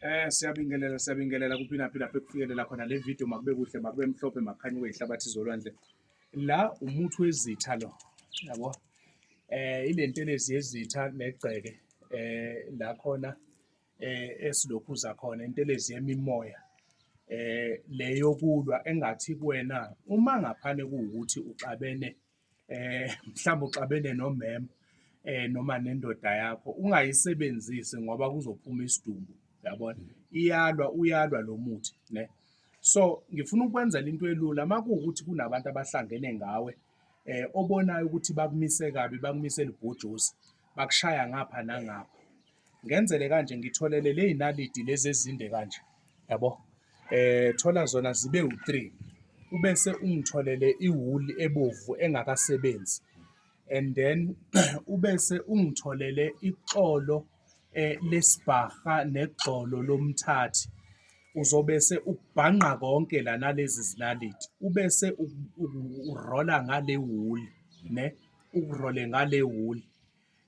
Eh siyabingelela siyabingelela kuphina phina lapho kufikelela khona le video makube kuhle makube mhlophe makhanye wehlabathi zolwandle la umuthi wezitha lo yabo eh ilentelezi yezitha negceke eh la khona eh esilokhu zakhona intelezi yemimoya eh leyokulwa engathi kuwena uma ngaphane kuwukuthi uxabene eh mhlawumbe uxabene nomema eh noma nendoda yakho ungayisebenzisi ngoba kuzophuma isidumbu yabona iyalwa uyalwa lo muthi ne so ngifuna ukwenzela into elula makuwukuthi kunabantu abahlangene ngawe eh obonayo ukuthi bakumise kabi bakumise libhujuzi bakushaya ngapha nangapha ngenzele kanje ngitholele ley'nalidi lezi ezinde kanje yabo eh thola zona zibe u-three ubese ungitholele iwuli ebovu engakasebenzi and then ubese ungitholele ixolo eh, lesibhaha negxolo lomthathi uzobese ukubhanqa konke la nalezi zinalidi ubese urola ngale wuli ne ukurole ngale wuli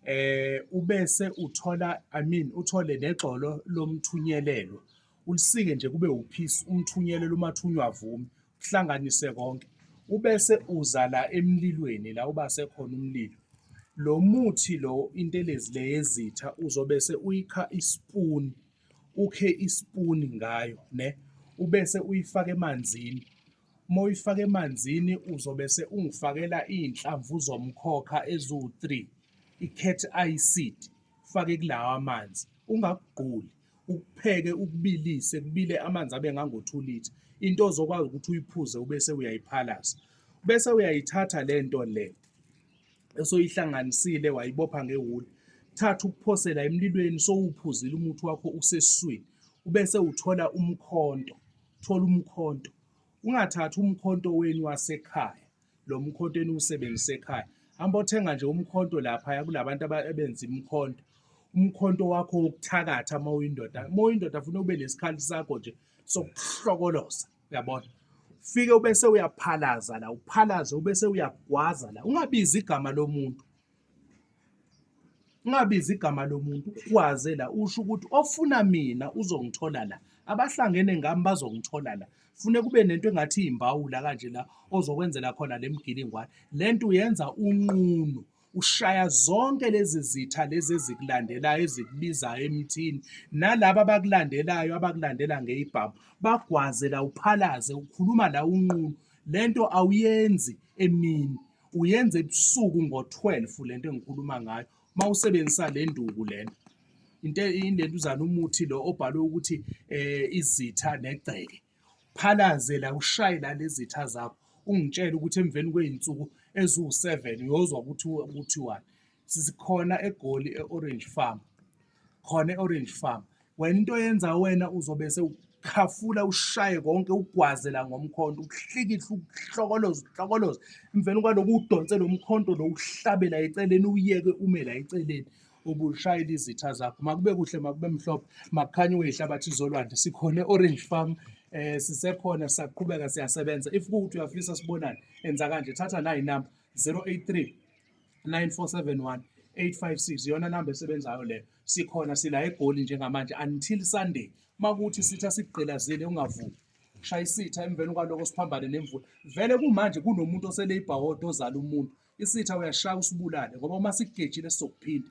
eh ubese uthola i mean uthole negxolo lomthunyelelo ulisike nje kube uphisi umthunyelelo umathunywa avumi kuhlanganise konke ubese uza la emlilweni la uba sekhona umlilo lo muthi lo intelezi le yezitha uzobe se uyikha ispoon ukhe ispoon ngayo ne ubese uyifaka emanzini Uma uyifaka emanzini uzobe se ungifakela iy'nhlamvu zomkhokha eziwu-three, i-cat eye seed, ufake kulawa amanzi. Ungakugquli, ukupheke ukubilise, kubile amanzi abe ngango-two litre. Into ozokwazi ukuthi uyiphuze ubese uyayiphalasa. Bese uyayithatha le nto le esoyihlanganisile wayibopha ngewuli, thatha ukuphosela emlilweni sowuphuzile umuthi wakho usesiswini, ubese uthola umkhonto. thola umkhonto ungathathi umkhonto wenu wasekhaya lo mkhonto eniwusebenzisa ekhaya hamba othenga nje umkhonto lapha kulabantu abenza imkhonto umkhonto wakho wokuthakatha uma uyindoda uma uyindoda funa ube nesikhali sakho nje sokuhlokoloza uyabona fike ubese uyaphalaza la uphalaze ubese uyagwaza la ungabizi igama lomuntu Ungabizi igama lomuntu ukwaze la usho ukuthi ofuna mina uzongithola la abahlangene ngami bazongithola la fune kube nento engathi iyimbawula kanje la ozokwenzela khona le mgilingwane le nto uyenza unqunu ushaya zonke lezi zitha lezi ezikulandelayo ezikubizayo emthini nalaba abakulandelayo abakulandela ngeyibhamu bagwaze la uphalaze ukhuluma la unqunu le nto awuyenzi emini uyenza ebusuku ngo-12 le nto engikhuluma ngayo uma usebenzisa le nduku lena into indenduzana umuthi lo obhalwe ukuthi eh izitha negceke phalaze la ushaye la lezitha zakho ungitshela ukuthi emveni kwey'nsuku eziwu-seven uyozwa ukuthi kuthiwani sikhona egoli e-orange farm khona e-orange farm wena into oyenza wena uzobe sewukhafula ushaye konke ugwaze la ngomkhonto ukuhlikihle ukuhlokoloza ukuhlokoloza emveni kwaloko udonse lo mkhonto lo uhlabela eceleni uyeke ume la eceleni ubushayela izitha zakho makube kuhle makube mhlophe makukhanye uyihlabathi izolwandle sikhona e-orange farm eh sisekhona saqhubeka siyasebenza if kuthi uyafisa sibonane enza kanje thatha nayi number 083 9471 856 iyona namba esebenzayo leyo sikhona sila egoli njengamanje until sunday makuthi sitha sikugqilazile ungavumi shaya isitha emveni kwaloko siphambane nemvula vele kumanje kunomuntu osele ibhawodo ozala umuntu isitha uyashaya usibulale ngoba uma sikugejile sizokuphinda